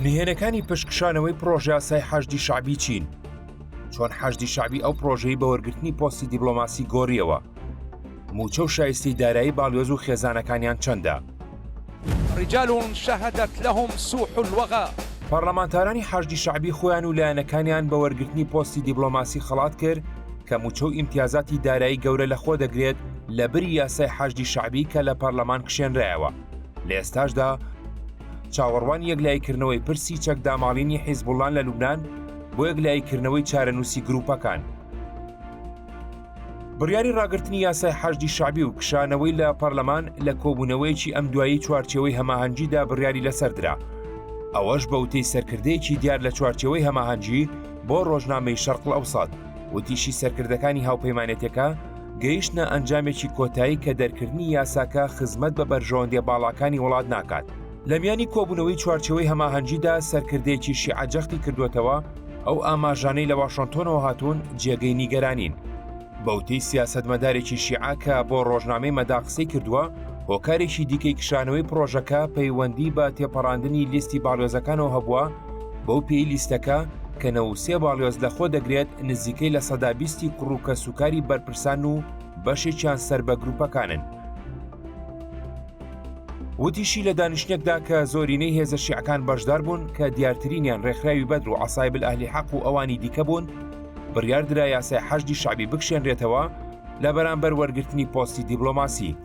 نهێنەکانی پشکشانەوەی پرۆژیاسای حەشدی شعبی چین چۆن حەشدی شعبی ئەو پرۆژەی بە وەرگرتنی پۆستی دیبلۆماسی گۆریەوە موچە و شایستی دارایی باڵیۆز و خێزانەکانیان چەندە رجال شهدت لهم سوح الوغا پەرلەمانتارانی حەشدی شعبی خۆیان و لایەنەکانیان بە وەرگرتنی پۆستی دیبلۆماسی خەڵات کرد کە موچە و ئیمتیازاتی دارایی گەورە لەخۆ دەگرێت لە بری یاسای حەشدی شعبی کە لە پەرلەمان کشێنرایەوە لە ئێستاشدا چاوەڕوان یەک لایکردنەوەی پرسی چەک داماڵینی حیزبوڵان لە لوبناان بۆ یەک لایکردنەوەی چارەنووسی گروپەکان. بڕیاری ڕاگررتنی یاسای حەشدی شعبی و کشانەوەی لە پەرلەمان لە کۆبوونەوەیەکی ئەم دوایی چوارچەوەی هەماهەنگیدا بڕیاری لەسەردرا ئەوەش بەوتەی سەرکردەیەکی دیار لە چوارچەوەی هەماهەنگی بۆ ڕۆژنامەی شەرقل ئەوسات وتیشی سەرکردەکانی هاوپەیمانێتەکە گەیشتنە ئەنجامێکی کۆتایی کە دەرکردنی یاساکە خزمەت بە بەرژەوەندی باڵاکانی وڵات ناکات لە میانی کۆبوونەوەی چوارچەوەی هەماهەنگیدا سەرکردەیەکی شیعجەختی کردوێتەوە ئەو ئاماژانەی لە واشنتۆنەوە هاتوون جێگەی نیگەرانین بەوتەی سیاستمەدارێکی شیعاکە بۆ ڕۆژنامەی مەدا قسەی کردووە هۆکارێکی دیکەی کشانەوەی پرۆژەکە پەیوەندی بە تێپەڕاندنی لیستی باڵێۆزەکانەوە هەبووە بەو پێی لیستەکە کە نەوەد و سێ باڵیۆز لە خۆ دەگرێت نزیکەی لە سەدا بیستی کوڕ و کەسوکاری بەرپرسان و بەشێکیان سەر بە گروپەکانن. وتیشی لە دانیشتنێکدا کە زۆرینەی هێزە شیعەکان بەشدار بوون کە دیارترینیان ڕێکخراوی بەدر و عسایبل ئەهلی حەق و ئەوانی دیکە بوون بڕیاردرا یاسای حەشدی شعبی بکشێنرێتەوە لە بەرامبەر وەرگرتنی پۆستی دیبلۆماسی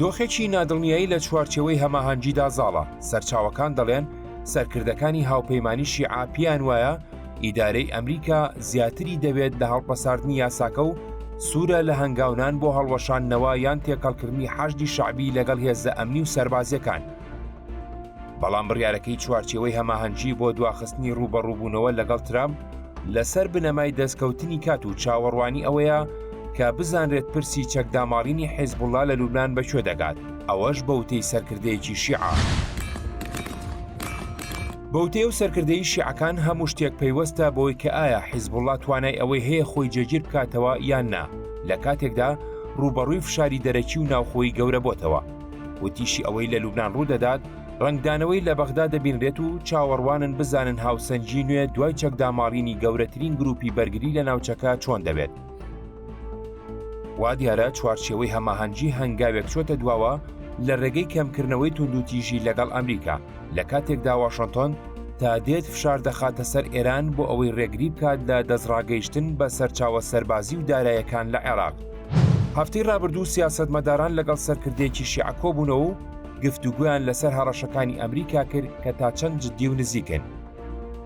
دۆخێکی نادڵنیایی لە چوارچێوەی هەماهەنگیدا زاڵە، سەرچاوەکان دەڵێن سەرکردەکانی هاوپەیمانی شیعە پێیان وایە ئیدارەی ئەمریکا زیاتری دەوێت لە هەڵپەساردنی یاساکە و سوورە لە هەنگاونان بۆ هەڵوەشاندنەوە یان تێکەڵکردنی حەشدی شەعبی لەگەڵ هێزە ئەمنی و سەربازیەکان. بەڵام بڕیارەکەی چوارچێوەی هەماهەنگی بۆ دواخستنی ڕوبەڕوبوونەوە لەگەڵ ترامپ لەسەر بنەمای دەستکەوتنی کات و چاوەڕوانی ئەوەیە کە بزانرێت پرسی چەکداماڵینی حیزبوڵڵا لە لوبنان بە کوێ دەگات، ئەوەش بە وتەی سەرکردەیەکی شیعە. بە وتەی ئەو سەرکردەی شیعەکان هەموو شتێک پەیوەستە بەوەی کە ئایا حیزبوڵڵا توانای ئەوەی هەیە خۆی جێگیر بکاتەوە یان نا، لە کاتێکدا ڕووبەڕووی فشاری دەرەکی و ناوخۆیی گەورە بۆتەوە. وتیشی ئەوەی لە لوبنان ڕوو دەدات ڕەنگدانەوەی لە بەغدا دەبینرێت و چاوەڕوانن بزانن هاوسەنگی نوێ دوای چەکداماڵینی گەورەترین گروپی بەرگری لە ناوچەکە چۆن دەبێت. وا دیارە چوارچێوەی هەماهەنگی هەنگاوێک چۆتە دواوە لە ڕێگەی کەمکردنەوەی توندوتیژی لەگەڵ ئەمریکا لە کاتێکدا واشنتۆن تا دێت فشار دەخاتە سەر ئێران بۆ ئەوەی ڕێگری بکات لە دەستڕاگەیشتن بە سەرچاوە سەربازی و دارایەکان لە عێراق. هەفتەی ڕابردوو سیاستمەداران لەگەڵ سەرکردێکی شیعە کۆبوونەوە و گفتوگویان لەسەر هەڕەشەکانی ئەمریکا کرد کە تا چەند جددی و نزیکن.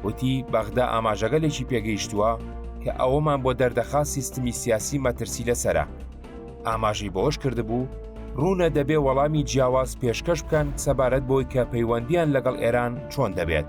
وتی بەغدا ئاماژەگەلێکی پێگەیشتووە کە ئەوەمان بۆ دەردەخا سیستمی سیاسی مەترسی لەسرە ئاماژەی بەوەش کردبوو ڕوونە دەبێ وەڵامی جیاواز پێشکەش بکەن سەبارەت بۆی کە پەیوەندیان لەگەڵ ئێران چۆن دەبێت.